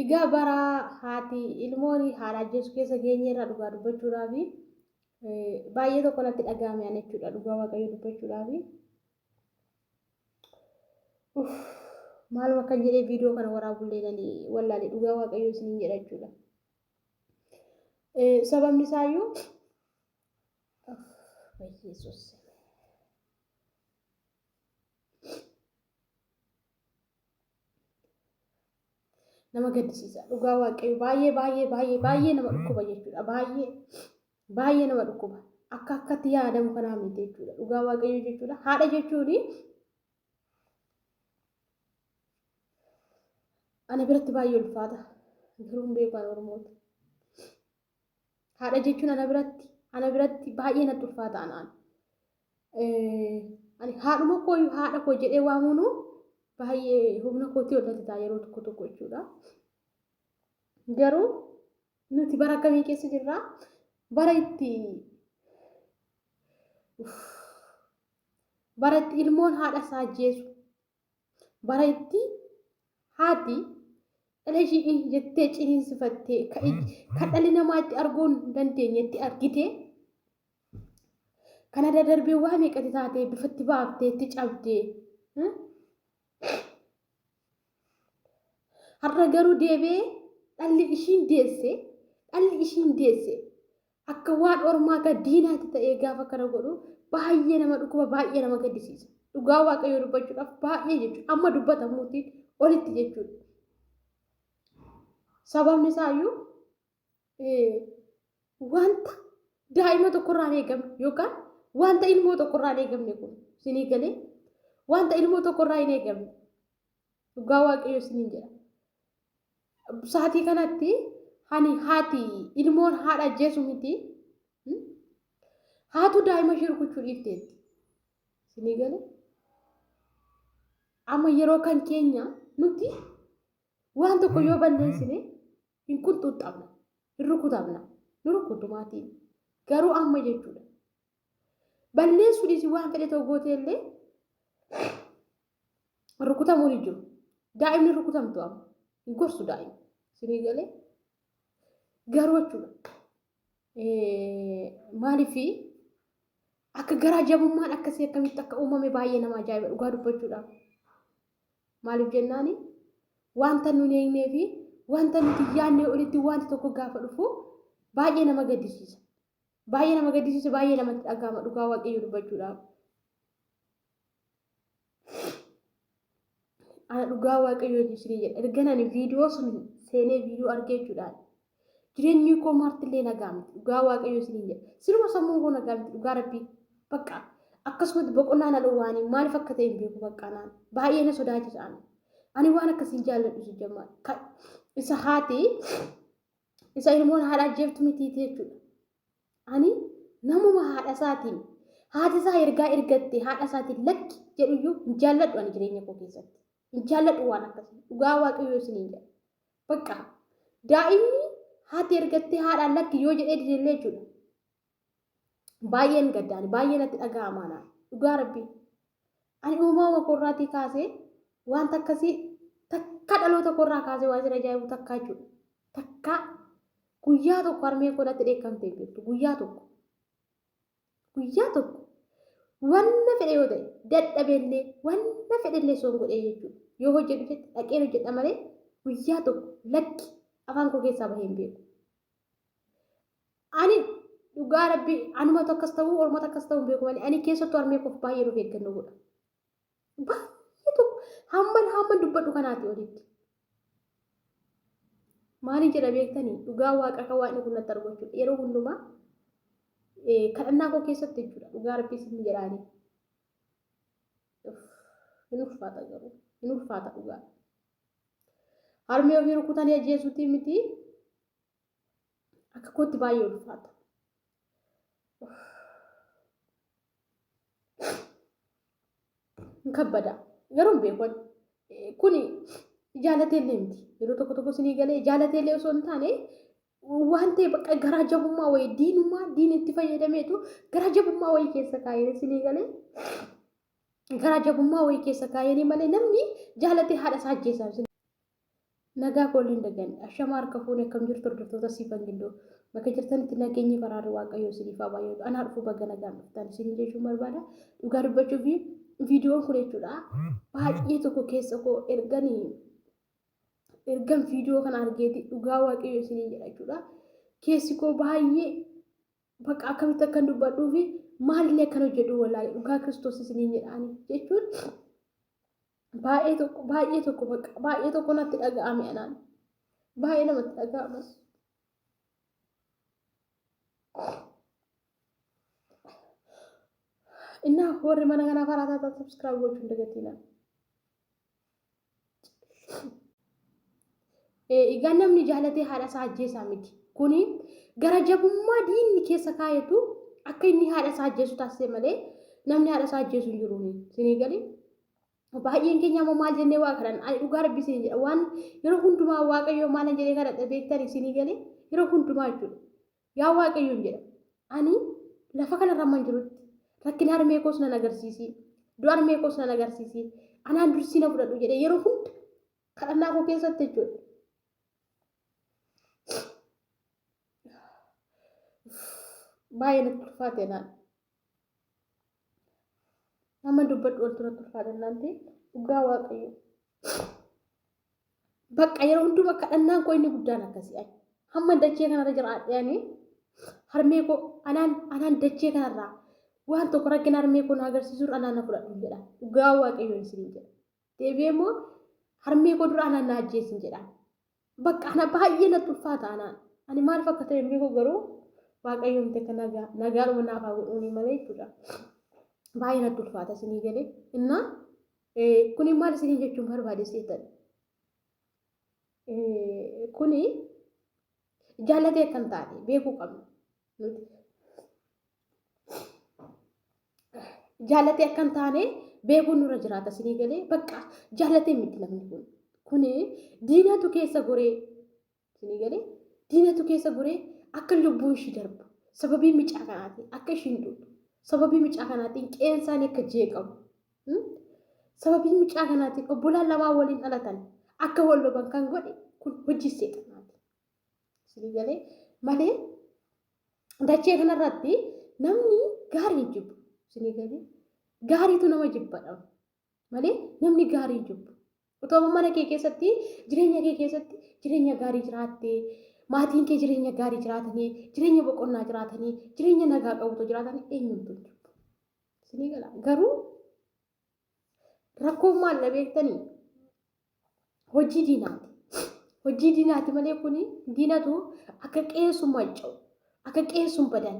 Egaa bara haati ilmoon haadha ajjeesu keessa geenyeerra dhugaa dubbachuudhaaf baay'ee tokko natti dhaga'ame ani jechuudha dhugaa waaqayyo dubbachuudhaaf. Uff maaluma kan jedhee viidiyoo kana waraabullee nani wallaale dhugaa waaqayyo isiniin jedha jechuudha. Sababni isaayyuu Yesuus. nama gaddisiisa dhugaa waaqayyo baay'ee baay'ee baay'ee baay'ee nama dhukkuba jechuudha baay'ee baay'ee nama dhukkuba akka akkatti yaadamu kanaa miti jechuudha dhugaa waaqayyo jechuudha haadha jechuun ana biratti baay'ee ulfaata garuu hin beeku ani oromoota Haadha jechuun ana biratti ana biratti baay'ee natti ulfaata anaan. Ani haadhuma koo haadha koo jedhee waamuun baay'ee humna kootii ol natti ta'a yeroo tokko tokko jechuudha. Garuu nuti bara akkamii keessa jirra? Bara itti bara itti ilmoon haadha isaa ajjeesu bara itti haati dhala ishii in jettee ciniinsifattee ka ij- ka dhalli namaa itti arguu hin dandeenyetti argitee kana dadarbee waa meeqatti taatee bifatti baaftee itti cabdee hmm? har'a garuu deebi'ee dhalli ishiin deesse dhalli ishiin deesse Akka waan ormaata diinaatti ta'ee gaafa kana godhu baay'ee nama dhukkuba baay'ee nama gaddisiisa. Dhugaa waaqayyoo dubbachuudhaaf baay'ee jechuudha. Amma dubbatamuutiin olitti jechuudha. Sababni isaayyuu wanta daa'ima tokkorraa hin eegamne yookaan wanta ilmoo tokkorraa hin eegamne kun sinii galee wanta ilmoo tokkorraa hin eegamne Dhugaa waaqayyo isiniin jedha. Saatii kanatti hani haati ilmoon haadha ajjeesu miti. Haatu daa'ima ishee rukuchuu dhiifteetti. Isinii gale? Amma yeroo kan keenya nuti waan tokko yoo balleessine hin qunxuuxxabna, hin rukutamna, nu rukutu maatiin. Garuu amma jechuudha. Balleessuu dhiisii waan fedhe ta'u gootee illee rukutamuun hin jiru. Daa'imni rukutamtu amma hin gorsu daa'imni. Sinii galee garuu jechuudha. Maaliif akka garaa jabummaan akkasii akkamitti akka uumame baay'ee nama ajaa'iba dhugaa dubbachuudhaaf. Maaliif jennaani wanta nun eegnee fi wanta nuti yaadnee olitti wanti tokko gaafa dhufu baay'ee nama gaddisiisa. Baay'ee nama gaddisiisa baay'ee namatti dhaga'ama dhugaa waaqayyo dubbachuudhaaf. Ana dhugaa waaqayyo isinii jedha ergan ani viidiyoo sun seenee viidiyoo argee jechuudhaan jireenyi koo maartillee nagaa miti dhugaa waaqayyo isinii jedha siruma sammuun koo nagaa miti dhugaa rabbii bakka akkasumatti boqonnaa na dhowwaanii maaliif akka ta'e hin beeku bakka naan baay'ee na sodaachisaan ani waan akkasiin jaalladhu si jammaa isa haati Isa ilmoon haadha ajjeeftu mitiiti jechuudha. Ani namuma haadha isaatiin haati isaa ergaa ergatte haadha isaatiin lakki jedhuyyuu hin jaalladhu ani jireenya koo keessatti. Hin jaalladhu waan akkasii dhugaa waaqayyoo isiniin jedha. Bakka daa'imni haati ergattee haadhaan lakki yoo jedhee didellee jechuudha. baay'een gaddaani baay'ee natti dhaga'amaa naa dhugaa rabbii ani uumama koorraatii kaasee wanta akkasii takka dhaloota koorraa kaasee waan isin ajaa'ibu takkaa jechuudha takkaa guyyaa tokko harmeen koo natti dheekkamtee hin beektu guyyaa tokko guyyaa tokko wanna fedhe yoo ta'e dadhabellee wanna fedhellee soon godhee jechuudha yoo hojjedhu jette dhaqeen hojjedha malee guyyaa tokko lakki afaan koo keessaa bahee hin beeku. Ani dhugaa rabbi anumatu akkas ta'uu ormatu akkas ta'uu beeku malee ani keessattuu harmee koof baay'ee nuuf eeggannoo godha. Baay'ee tokko hamman hamman dubbadhu kanaati olitti. Maaliin jedha beektanii dhugaa waaqa akka waaqni kun natti argu jechuudha. Yeroo hundumaa kadhannaa koo keessatti jechuudha dhugaa rabbi isin jedhaanii. Hin ulfaata garuu hin ulfaata dhugaa. Harmee ofii rukutanii ajjeesuutii miti Akka kootti baay'ee ulfaata. Hin kabbada. Garuu hin beeku. Kuni jaalatee illee miti. Yeroo tokko tokko sinii galee jaalatee illee osoo hin taane waan ta'e bakka garaa jabummaa wayii diinummaa diin itti fayyadameetu garaa jabummaa wayii keessa kaa'ee sinii galee garaa jabummaa wayii keessa kaa'ee malee namni jaalatee haadha isaa ajjeesaa Nagaa koo illeen daganne. Ashama harka fuune akkam jirtu hordoftoota siifan gindoo. Bakka jirtanitti nageenyi faraarri waaqayyoo isiniif haa baay'atu. Anaa dhufu baga nagaan dhuftan isin jechuun barbaada. Dhugaa dubbachuuf viidiyoon kun jechuudha. Baay'ee tokko keessa koo erganii ergan viidiyoo kana argeeti dhugaa waaqayyoo isiniin jedha jechuudha. Keessi koo baay'ee bakka akkamitti akkan dubbadhuu fi maalillee akkan hojjedhu walaalee dhugaa kiristoos isiniin jedhaani jechuun Baay'ee tokko baay'ee tokko bakka baay'ee tokko natti dhaga'ame anaan. Baay'ee namatti dhaga'amas. Innaa warri mana kanaa faraa taataa subscribe gochuun dagatinaa. Egaa namni jaalatee haadha isaa ajjeesaa miti. Kuni gara jabummaa diinni keessa kaayetu akka inni haadha isaa ajjeesu taasise malee namni haadha isaa ajjeesu hin jiru. Sinii galee? baay'een keenya ammoo maal jennee waa kadhan ani dhugaa rabbi isin jedha waan yeroo hundumaa waaqayyoo maalan jedhee kadhadha beektani isinii galee yeroo hundumaa jechuudha. Yaa Waaqayyoon jedha, ani lafa kanarra hamman jirutti rakkina harmee koos nan agarsiisi, du'a harmee koos nan agarsiisi, anaan dursii na fudhadhu jedhee yeroo hunda kadhannaa koo keessatti jechuudha. Baay'ee natti ulfaate naan. Amma dubbadhu ol turatti ulfaata innaan ta'e dhugaa waaqayyo. Bakka yeroo hunduma kadhannaan koo inni guddaan akkasii ani. Hamma dachee kanarra jiraadhee ani harmee koo anaan anaan dachee kanarraa waan tokko rakkina harmee koo na agarsiisuun anaan na fudhadhu jedha. Dhugaa waaqayyoon isiniin jedha. deebi'ee immoo harmee koo dura anaan na ajjeesin jedha. Bakka ana baay'ee natti ulfaata anaan. Ani maaliif akka ta'e hin beeku garuu waaqayyoon ta'e kan nagaa nagaadhuma naaf haa godhuuni malee jechuudha. Baay'ee natti ulfaata isinii galee. Innaa kuni maal isinii jechuun barbaade seetan? Kuni jaallatee kan taate beekuu qabna. Nuti jaalatee akka hin taane beekuun nurra jiraata sinii galee bakka jaalatee miti namni kun kun diinatu keessa goree sinii galee diinatu keessa goree akka lubbuun ishii darbu sababii micaa kanaatiin akka ishiin duutu sababii micaa kanaatiin qeensaan akka jeeqamu sababii micaa kanaatiin obbolaan lamaa waliin dhalatan akka wal loban kan godhe kun hojii seexanaati Isinii galee malee dachee kanarratti namni gaarii jibbu. Isinii galee gaariitu nama jibbadha malee namni gaarii jibbu. Otoo mana kee keessatti jireenya kee keessatti jireenya gaarii jiraattee maatiin kee jireenya gaarii jiraatanii jireenya boqonnaa jiraatanii jireenya nagaa qabutu jiraatanii eenyuutu hin jibbu. Isinii gala garuu Rakkoon maal na beektanii? Hojii diinaati. Hojii diinaati malee kun diinatu akka qeessu manca'u, akka qeessu badan,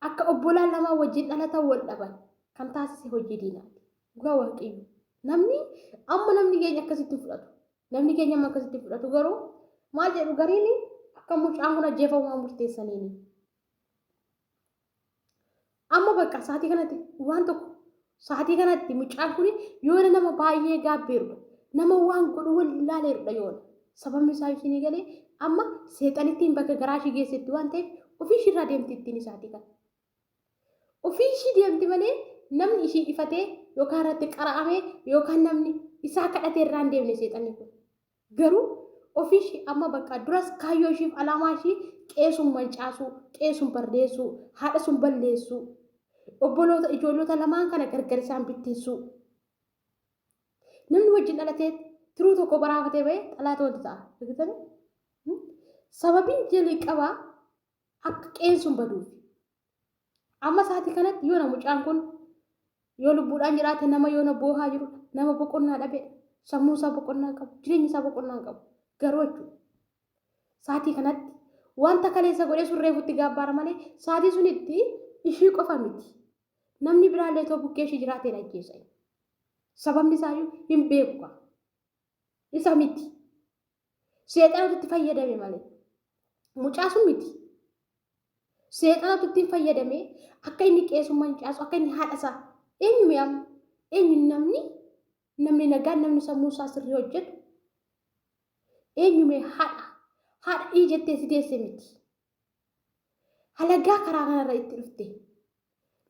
akka obbolaan lamaa wajjin dhalatan wal dhaban kan taasise hojii diinaati. Dhugaa waaqayyo. Namni amma namni keenya akkasitti hin fudhatu. Namni keenya amma akkasitti hin fudhatu garuu maal jedhu gariin akka mucaan kun ajjeefamu waan murteessaniini. Amma bakka sa'aatii kanatti waan tokko sa'aatii kanatti mucaan kun yoona nama baay'ee gaabbeerudha. Nama waan godhu wallaaleerudha yoona. Sababni isaa isinii galee amma seexanittiin bakka garaa ishii geessetti waan ta'eef ofii ishiirraa deemti ittiin isaatii kana. Ofii ishii deemti malee namni ishii dhifatee yookaan irratti qara'amee yookaan namni isaa kadhatee irraa hin deemne seexanni kun. Garuu ofii ishii amma baqqa duras kaayyoo ishiif alaamaa ishii qe'ee sun mancaasuu, qe'ee sun bardeessuu, haadha sun balleessuu, obboloota, ijoollota lamaan kana gargar isaan bittinsuu. Namni wajjin dhalatee tiruu tokko baraafatee ba'e xalaata wanti ta'a. Argitanii? Sababiin jalqabaa akka qeen sun baduuf amma sa'aatii kanatti yoona mucaan kun yoo lubbuudhaan jiraate nama yoona boohaa jiru nama boqonnaa dhabe sammuu isaa boqonnaa qabu jireenya isaa boqonnaa qabu garuu jechuudha sa'aatii kanatti wanta kaleessa godhee sun reefutti gaabbaara malee sa'aatii sunitti ishii qofa miti namni biraallee too bukkee ishii jiraateen ajjeesa sababni isaayyuu hin beeku isa miti. Seexanatu itti fayyadame malee. Mucaa sun miti. Seexanatu ittiin fayyadame akka inni qeesummaa hin caasu akka inni haadha isaa eenyu mi'aamu eenyu namni namni nagaa namni sammuu isaa sirrii hojjetu eenyu mee haadha haadha ii jettee si deesse miti Halagaa karaa kanarra itti dhufte.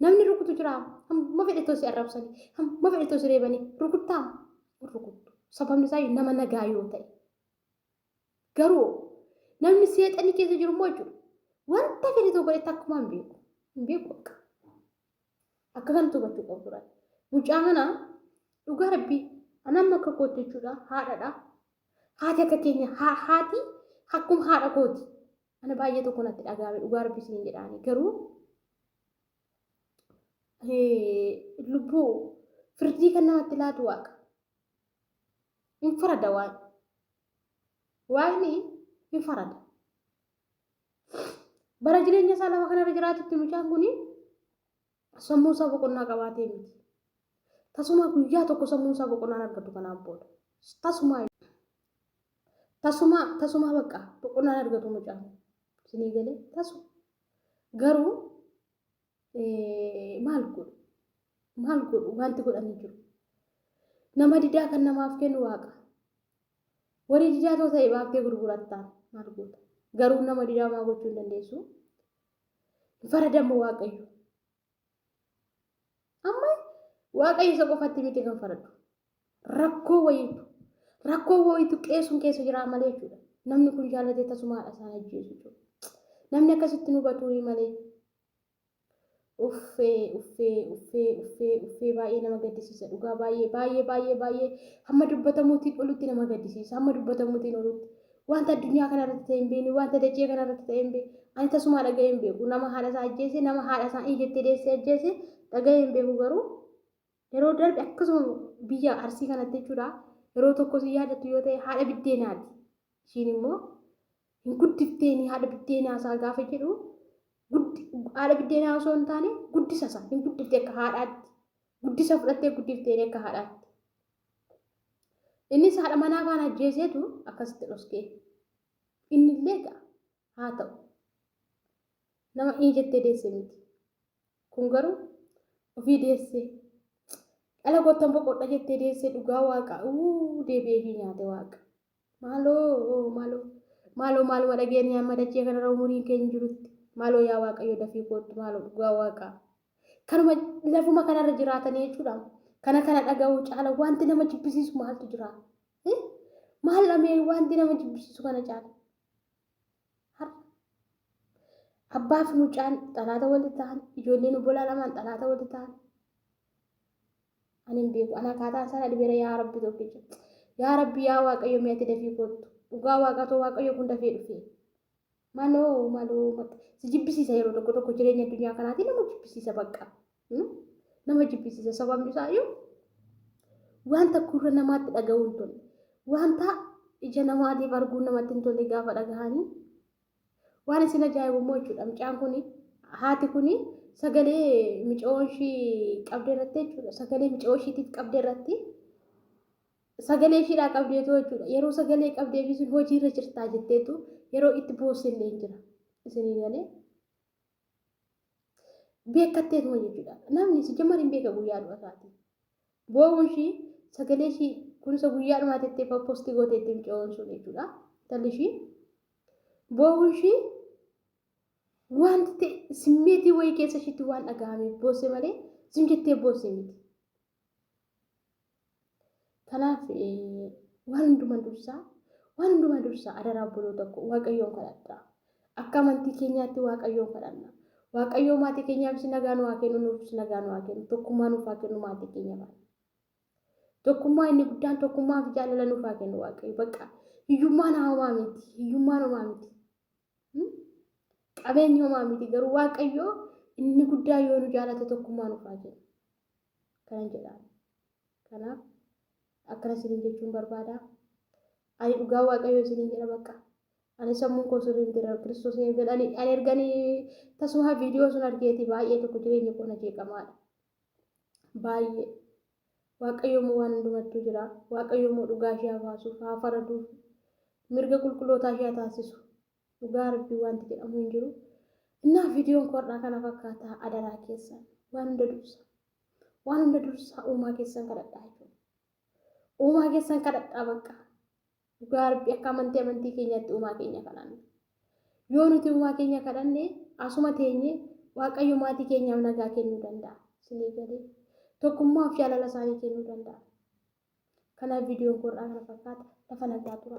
Namni rukutu jira. Hamma fedhe too si arrabsani. Hamma fedhe too si reebani. Rukuttaa? Rukuttu. Sababni isaa nama nagaa yoo ta'e. Garuu namni seexanni keessa jiru immoo jechuudha. Wanta fedhe too godhetti akkuma hin beeku. Hin beeku bakka. Akka kanatti hubachuu qabu turan. Mucaa kana dhugaa rabbii anamma akka kootti jechuudha haadhadha. Haati akka keenya haati akkuma haadha kooti. Ana baay'ee tokko natti dhaga'ame dhugaa rabbi isin jedhaani garuu lubbuu firdii kan namatti laatu waaqa. Hin farada waan. Waaqni hin farada. Bara jireenya isaa lafa kanarra jiraatutti mucaan kun Sammuu isaa boqonnaa qabaatee miti. Tasumaa guyyaa tokko sammuun isaa boqonnaan argatu kanaan booda. Tasumaa tasumaa tasumaa bakka boqonnaan argatu mucaan. Isinii galee tasu. Garuu maal godhu? Maal godhu? Wanti godhanii jiru. Nama didaa kan namaaf kennu waaqa. Warri didaa too ta'e baaftee gurgurattaan maal goota? Garuu nama didaa maa gochuu hin dandeessu? hin faradamma waaqayyo amma waaqayyo isa qofatti miti kan faradu rakkoo wayiitu rakkoo wayiitu qeessuun keessa jiraa malee jechuudha namni kun jaallatee tasumaadha isaan ajjeesu jechuudha namni akkasitti nu batuu malee uffee uffee uffee uffee uffee baay'ee nama gaddisiisa dhugaa baay'ee baay'ee baay'ee baay'ee hamma dubbatamuutiin olutti nama gaddisiisa hamma dubbatamuutiin olutti Wanta addunyaa kana irratti ta'e hin beekne, wanta dachee kana irratti ta'e hin beekne. Ani tasumaa dhaga'ee hin beeku. Nama haadha isaa ajjeese, nama haadha isaa in jettee deessee ajjeese dhaga'ee hin beeku garuu yeroo darbe akkasuma biyya arsii kanatti jechuudha yeroo tokko si yaadattu yoo ta'e haadha biddeenaati. Ishiin immoo hin guddifteeni haadha biddeenaa isaa gaafa jedhu haadha biddeenaa osoo hin taane guddisa isaa hin guddifte akka haadhaatti. guddisa fudhattee guddifteeree akka haadhaatti. Innis haadha manaa kaan ajjeeseetu akkasitti dhoskee. Inni illee egaa haa ta'u. Nama inni jettee deesse miti. Kun garuu ofii deessee. Dhala goottan boqodha jettee deessee dhugaa waaqa uu deebi'ee ishii nyaate waaqa. Maaloo maaloo maaloo maaluma dhageenye amma dachee kanarra umuriin keenya jirutti maaloo yaa waaqayyo dafii koottu maaloo dhugaa waaqaa kanuma lafuma kanarra jiraatanii jechuudha kana kana dhaga'uu caala wanti nama jibbisiisu maaltu jira maal dhamee wanti nama jibbisiisu kana caala abbaa fi mucaan xalaata walitti ta'an ijoolleen obbolaa lamaan xalaata walitti ta'an ani hin beeku ana akkaataan isaa na dhibeera yaa rabbi tokkicha yaa rabbi yaa waaqayyo mee ati dafii koottu dhugaa waaqatoo waaqayyo kun dafee dhufee maloo maloo maq- si jibbisiisa yeroo tokko tokko jireenya addunyaa kanaatiin nama jibbisiisa bakka Hmm? nama jibbisiisa sababni isaa iyyuu wanta gurra namaatti dhaga'uu hin tolle wanta ija namaatiif arguun namatti hin tolle gaafa dhagahanii Waan isin ajaa'ibu immoo jechuudha mucaan kun haati kun sagalee micoon ishii qabde irratti jechuudha sagalee micoo ishiitiif qabde irratti sagalee ishiidhaa qabdeetu jechuudha yeroo sagalee qabdee fi isin hojiirra jirtaa jetteetu yeroo itti boossillee hin jira isinii galee. beekattee tuma jechuudha. Namni si jammar hin beeka guyyaa du'a isaati. Boo'uun ishii sagalee ishii kunuunsa guyyaa dhumaa tettee fa'aa poostii gootee itti micoon sun jechuudha. Talli ishii boo'uun ishii wanti ta'e simmeetii wayii keessa ishiitti waan dhaga'ameef boosse malee sim jettee boosse miti. Kanaaf waan hundumaa dursaa waan hundumaa dursaa adaraa obboloota koo waaqayyoon kadhadhaa. Akka amantii keenyaatti waaqayyoon kadhanna. Waaqayyoo maatii keenyaafis nagaa nu haa kennu nuufis nagaa nu haa kennu tokkummaa nuuf haa kennu maatii keenya faana. Tokkummaa inni guddaan tokkummaa fi jaalala nuuf haa kennu waaqayyo bakka hiyyummaan haamaa miti hiyyummaan homaa miti. Hmm? Qabeenyi homaa miti garuu Waaqayyoo inni guddaa yoo nu jaalate tokkummaa nufaa jenna. Kanan jedhaan. Kanaaf akkana isiniin jechuun barbaada. Ani dhugaa Waaqayyoo isiniin jedha bakka. Ani sammuun koo sirrii miti irra Kiristoos eegan. Ani ani erganii tasuma viidiyoo sun argeeti baay'ee tokko jireenya koo na jeeqamaadha. baay'ee waaqayyoo moo waan hundumattuu jira waaqayyoo moo dhugaa ishee habaasuuf haa faraduuf mirga qulqullootaa ishee taasisu dhugaa rabbii wanti jedhamu hin jiru innaa viidiyoon koodhaa kana fakkaataa adaraa keessan waan hunda dursa waan hunda dursaa uumaa keessan kadhadhaa jechuudha uumaa keessan kadhadhaa bakka Dhugaa Rabbi akka amantii amantii keenyaatti uumaa keenya kadhanna. Yoo nuti uumaa keenya kadhanne asuma teenye Waaqayyo maatii keenyaaf nagaa kennuu danda'a. Isinii galee tokkummaa fi jaalala isaanii kennuu danda'a. Kanaaf viidiyoon koo irraa kana fakkaata lafa nagaa tura.